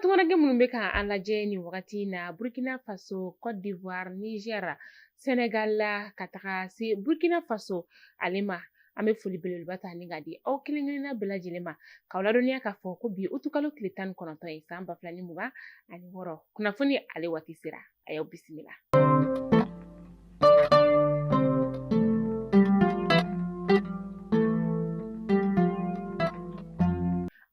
tungaranke minnu bɛ ka an lajɛ nin wagati in na burkina faso cote d'ivoire niger senegal la ka taga se burkina faso ale ma an bɛ foli belebeleba ta ni ka di aw kelen-kelenna bɛɛ lajɛlen ma k'aw ladɔnniya k'a fɔ ko bi utukalo tile tan ni kɔnɔntɔn ye san ba fila ni mugan ani wɔɔrɔ kunnafoni ale waati sera a y'aw bisimila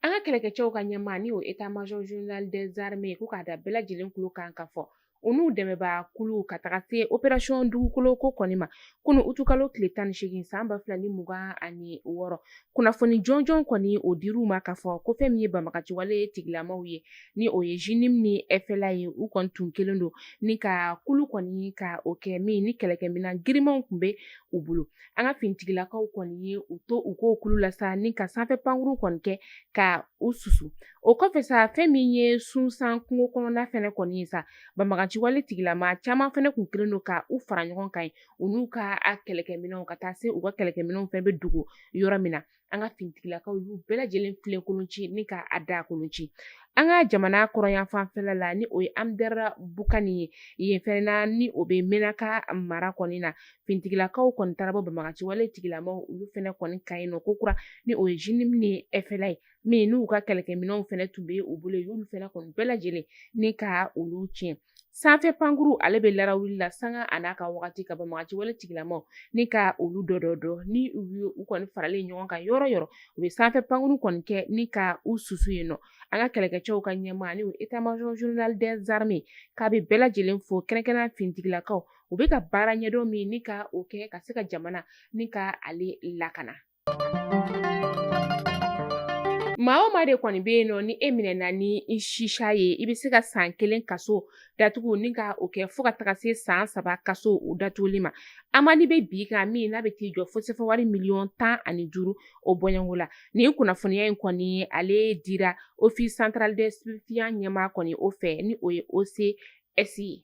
an ka kɛlɛkɛcɛw ka ɲɛmaa ni o état major général des armées ko k'a da bɛɛ lajɛlen kulo kan k'a fɔ u n'u dɛmɛbaa kulu ka taga se opération dugukoloko kɔni ma kunu utukalo tile tan ni seegin san ba fila ni mugan ani wɔɔrɔ kunnafoni jɔnjɔn kɔni o dir'u ma k'a fɔ ko fɛn min ye banbagaciwale tigilamaw ye ni o ye JNIM ni FLA ye u kɔni tun kɛlen don ni ka kulu kɔni ka o kɛ min ni kɛlɛkɛminan girimanw tun bɛ u bolo an ka finitigilakaw kɔni ye u to u k'o kulu la sa ni ka sanfɛ pankuru kɔni kɛ ka u susu O kɔfɛ sa fɛn min ye sunsan kungo kɔnɔna fɛnɛ kɔni ye sa banbaganciwale tigilama caman fɛnɛ kun kɛlen don ka u fara ɲɔgɔn kan yen u n'u ka kɛlɛkɛminɛnw ka taa se u ka kɛlɛkɛminɛnw fɛnɛ bɛ dogo yɔrɔ min na an ka finitigilakaw y'u bɛɛ lajɛlen filen kolon ci ni ka daa kolon ci an ka jamana kɔrɔnyanfanfɛla la ni o ye anderabukan ye yen fɛnɛ ni o bɛ menaka mara kɔni na finitigilakaw kɔni taara bɔ banbaganciwale tigilamaw olu fɛnɛ kɔni kan yen nɔ kokura ni o ye JNIM ni FLA ye min n'u ka kɛlɛkɛminɛnw fɛnɛ tun bɛ u bolo yen y'olu fɛnɛ kɔni bɛɛ lajɛlen ni ka olu tiɲɛ sanfɛ pankuru ale bɛ larawuli la sanga a n'a ka wagati ka banbagaciwale tigilamaw ni ka olu dɔdɔ ni u ye u kɔni faralen ɲɔgɔn kan yɔrɔ yɔrɔ u bɛ sanfɛ pankuru kɔni kɛ ni ka u susu yen nɔ an ka kɛlɛkɛcɛw ka ɲɛmaa ni o état major général des armées k'a bɛ bɛɛ lajɛlen fo kɛrɛnkɛrɛn finitigilakaw u bɛ ka baara ɲɛdɔn min ni ka o kɛ ka se ka jamana ni ka ale lakana Maa o maa de kɔni bɛ yen nɔ ni e minɛna ni shisha ye i bɛ se ka san kelen kaso datugu ni ka o kɛ fo ka taga se san saba kaso o datuguli ma amende bɛ b'i kan min n'a bɛ t'i jɔ fo sefa wari miliyɔn tan ani duuru o bɔɲɔgɔnko la nin kunnafoniya in kɔni ale dira office central des stupéfiants ɲɛmaa kɔni o fɛ ni o ye OCS ye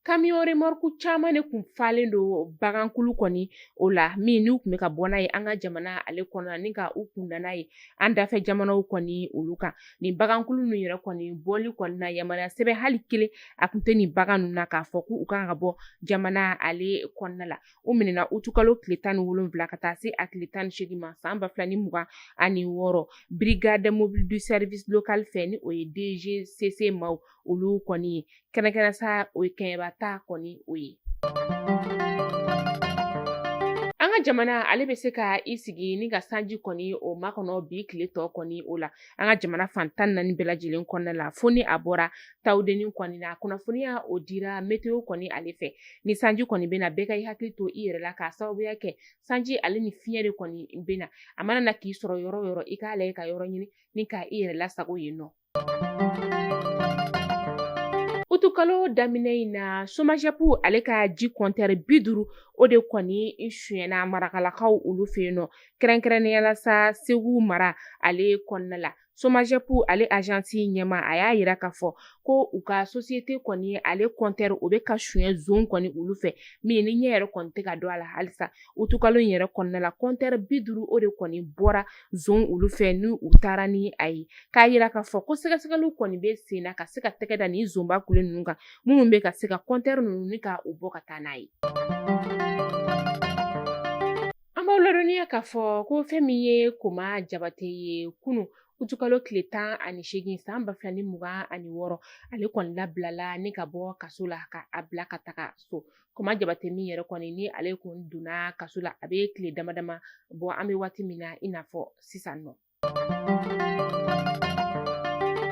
kamiyɔn remɔriku caman de kun falen don bagankulu kɔni o la min n'u kun bɛ ka bɔ n'a ye an ka jamana ale kɔnɔna ni ka u kunda n'a ye an dafɛ jamanaw kɔni olu kan nin bagankulu ninnu yɛrɛ kɔni bɔli kɔni na yamaruya sɛbɛn hali kelen a kun tɛ nin bagan ninnu na k'a fɔ k' u kan ka bɔ jamana ale kɔnɔna la u minɛna utukalo tile tan ni wolonwula ka taa se a tile tan ni seegin ma san ba fila ni mugan ani wɔɔrɔ brigade mobile du service local fɛ ni o ye DGCC maaw olu kɔni ye kɛnɛkɛnɛ sa o ye kɛɲɛba ta kɔni o ye an ka jamana ale bɛ se ka i sigi ni ka sanji kɔni o makɔnɔ bi tile tɔ kɔni o la an ka jamana fan tan naani bɛɛ lajɛlen kɔnɔna la fo ni a bɔra tawudeni kɔni na kunnafoniya o dira meteo kɔni ale fɛ ni sanji kɔni bɛ na bɛɛ ka i hakili to i yɛrɛ la k'a sababuya kɛ sanji ale ni fiɲɛ de kɔni bɛ na a mana na k'i sɔrɔ yɔrɔ yɔrɔ i k'a lajɛ ka yɔrɔ ɲini ni ka i yɛrɛ lasago yen nɔ Utukalo daminɛ in na somajɛp ale ka ji kɔntɛri bi duuru o de kɔni suɲɛna marakalakaw olu fɛ yen nɔ kɛrɛnkɛrɛnnenya la sa segu mara ale kɔnɔna la somajɛp ale azansi ɲɛmaa a y'a yira k'a fɔ ko u ka sosiyete kɔni ale kɔntɛri o bɛ ka suɲɛ zon kɔni olu fɛ min ni ɲɛ yɛrɛ kɔni tɛ ka dɔn a la halisa utukalo yɛrɛ kɔnɔna la kɔntɛri bi duuru o de kɔni bɔra zon olu fɛ ni u taara ni a ye k'a yira k'a fɔ ko sɛgɛsɛgɛliw kɔni bɛ sen na ka se ka tɛgɛ da nin zonba kule ninnu kan minnu bɛ ka se ka kɔntɛri ninnu ni ka u bɔ ka taa n'a ye an b'aw ladɔnniya k'a fɔ ko fɛn min ye kuma jabate ye kunu utukalo tile tan ani seegin san ba fila ni mugan ani wɔɔrɔ ale kɔni labilala ni ka bɔ kaso la ka a bila ka taga so kuma jabate min yɛrɛ kɔni ni ale kun donna kaso la a bɛ tile damadama bɔ an bɛ waati min na i n'a fɔ sisan nɔ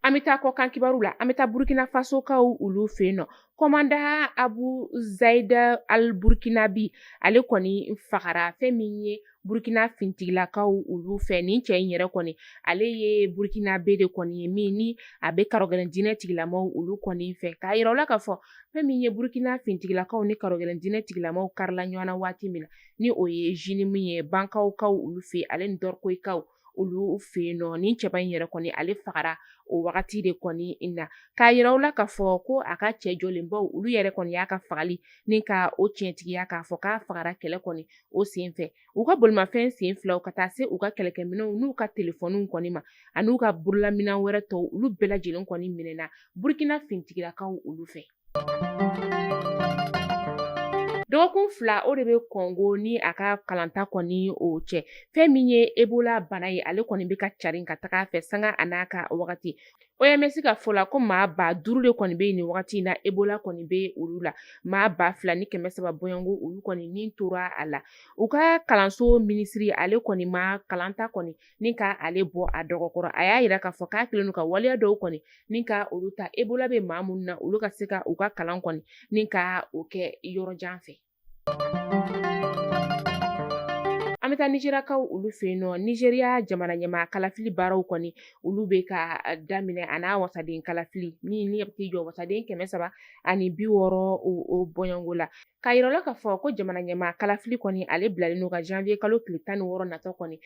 an bɛ taa kɔkan kibaru la an bɛ taa burkina fasokaw olu fɛ yen nɔ komandan abu zayida al burkinabi ale kɔni fagara fɛn min ye burukina fintigilakaw olu fɛ nin cɛ in yɛrɛ kɔni ale ye burukinabe de kɔni ye min ni a bɛ karɔgɛlɛn diinɛ tigilamaw olu kɔni fɛ k'a yira u la k'a fɔ fɛn min ye burukina fintigilakaw ni karɔgɛlɛn diinɛ tigilamaw karila ɲɔgɔn na waati min na ni o ye jinimu ye bankaw kaw olu fɛ ale ni dɔrkoyikaw olu fɛ yen nɔ nin cɛba in yɛrɛ kɔni ale fagara o wagati de kɔni na k'a yira u la k'a fɔ ko a ka cɛ jɔlenbaw olu yɛrɛ kɔni y'a ka fagali ni ka o tiɲɛtigiya k'a fɔ k'a fagara kɛlɛ kɔni o sen fɛ u ka bolimafɛn sen filaw ka taa se u ka kɛlɛkɛminɛnw n'u ka telefɔniw kɔni ma ani n'u ka bololaminɛn wɛrɛ tɔw olu bɛɛ lajɛlen kɔni minɛna burukina fintigilakaw olu fɛ Dɔgɔkun fila o de bɛ kɔngo ni a ka kalanta kɔni o cɛ fɛn min ye ebola bana ye ale kɔni bɛ ka carin ka taga a fɛ sanga a n'a ka wagati OMS ka fɔ la ko maa ba duuru de kɔni bɛ yen nin wagati in na ebola kɔni bɛ olu la maa ba fila ni kɛmɛ saba bɔɲɔngo olu kɔni ni tora a la u ka kalanso minisiri ale kɔni ma kalanta kɔni ni ka ale bɔ a dɔgɔ kɔrɔ a y'a yira k'a fɔ k'a kɛlen don ka waleya dɔw kɔni ni ka olu ta ebola bɛ maa minnu na olu ka se ka u ka kalan kɔni ni ka o kɛ yɔrɔ jan fɛ an bɛ taa nizeriyakaw olu fɛ yen nɔ nizeriya jamana ɲɛmaa kalafili baaraw kɔni olu bɛ ka daminɛ a n'a wasaden kalafili min ni a bɛ t'i jɔ wasaden kɛmɛ saba ani bi wɔɔrɔ o bɔɲɔngo la K'a yira u la k'a fɔ ko jamana ɲɛmaa kalafili kɔni ale bilalen don ka janvier kalo tile tan ni wɔɔrɔ natɔ kɔni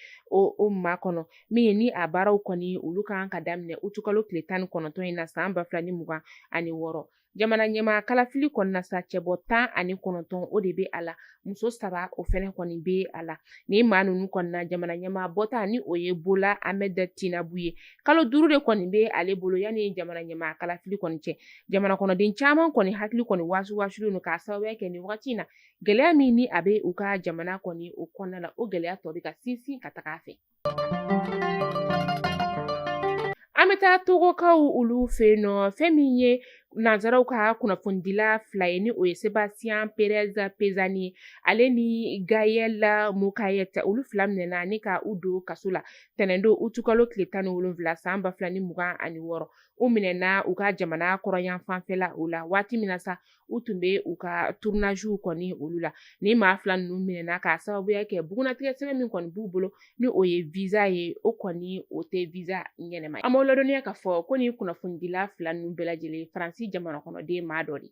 o makɔnɔ min ni a baaraw kɔni olu ka kan ka daminɛ aout kalo tile tan ni kɔnɔntɔn in na san ba fila ni mugan ani wɔɔrɔ jamana ɲɛmaa kalafili kɔni na sa cɛbɔ tan ani kɔnɔntɔn o de bɛ a la muso saba o fɛnɛ kɔni bɛ a la nin maa ninnu kɔni na jamana ɲɛmaa bɔta ni o ye Bola Ahmed Tinubu ye kalo duuru de kɔni bɛ ale bolo yanni jamana ɲɛmaa kalafili kɔni cɛ jamana kɔnɔden caman kɔni hakili kɔni wasuwasulen don k'a sababuya kɛ nin wagati in na gɛlɛya min ni a bɛ u ka jamana kɔni o kɔnɔna la o gɛlɛya tɔ bɛ ka sinsin ka taga a fɛ an bɛ taa togokaw olu fɛ yen nɔ fɛn min ye nanzaraw ka kunnafonidila fila ye ni o ye sebastien perez pezzani ye ale ni gaël mocaër olu fila minɛna ni ka u don kaso la tɛnɛndon utukalo tile tan ni wolonwula san ba fila ni mugan ani wɔɔrɔ u minɛna u ka jamana kɔrɔnyanfanfɛla o la waati min na sa u tun bɛ u ka tournagew kɔni olu la ni maa fila ninnu minɛna k'a sababuya kɛ bugunnatigɛ sɛbɛn min kɔni b'u bolo ni o ye visa ye o kɔni o tɛ visa ɲɛnɛma ye an b'aw ladɔnniya k'a fɔ ko nin kunnafonidila fila ninnu bɛɛ lajɛlen faransi jamana kɔnɔden maa dɔ de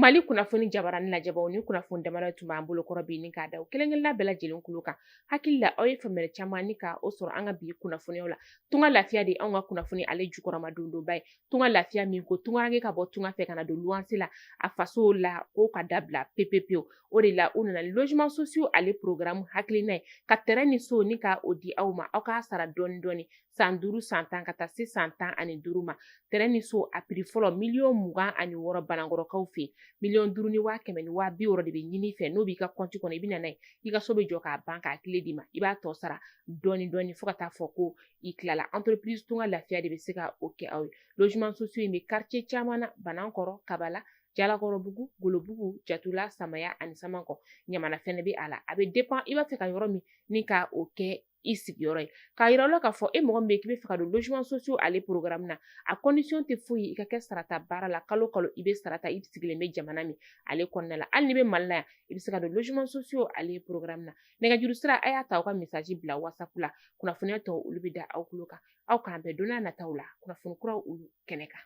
mali kunnafoni jabarani lajɛbaw ni kunnafoni damadɔ tun b'an bolo kɔrɔ bi ni k'a da aw kelenkelenna bɛɛ lajɛlen kulo kan hakili la aw ye faamuyali caman ni ka o sɔrɔ an ka bi kunnafoniyaw la tunga lafiya de anw ka kunnafoni ale jukɔrɔmadondonba ye tunga lafiya min ko tungaranke ka bɔ tunga fɛ ka na don luwanse la a faso la ko ka dabila pepepewu o de la u nana ni logement sociaux ale programme hakilina ye ka tɛrɛn ni so ni ka o di aw ma aw k'a sara dɔɔni dɔɔni san duuru san tan ka taa se san tan ani duuru ma tɛrɛn ni so a prix fɔlɔ miliyɔn mugan ani wɔɔrɔ banankɔrɔkaw fɛ yen miliyɔn duuru ni waa kɛmɛ ni waa bi wɔɔrɔ de bɛ ɲini i fɛ n'o b'i ka kɔnti kɔnɔ i bɛ na n'a ye i ka so bɛ jɔ k'a ban k'a kile d'i ma i b'a tɔ sara dɔɔnin dɔɔnin fo ka taa fɔ ko i tilala entreprise tunga lafiya de bɛ se ka o kɛ aw ye logement sociaux in bɛ quartier caman na banankɔrɔ kabala jalakɔrɔbugu golobugu jatula samaya ani samankɔ ɲamana fɛnɛ bɛ a la a bɛ dépend i b'a fɛ ka yɔrɔ min ni ka o kɛ i sigiyɔrɔ ye k'a yira la k'a fɔ e mɔgɔ min bɛ k'i bɛ fɛ ka don logement sociaux ale programme na a condition tɛ foyi ye i ka kɛ sarata baara la kalo kalo i bɛ sarata i sigilen bɛ jamana min ale kɔnɔna la hali n'i bɛ mali la yan i bɛ se ka don logement sociaux ale programme na nɛgɛjuru sira a y'a ta aw ka message bila whatsapp la kunnafoniya tɔw olu bɛ da aw tulo kan aw k'an bɛn don n'a nataw la kunnafoni kuraw olu kɛnɛ kan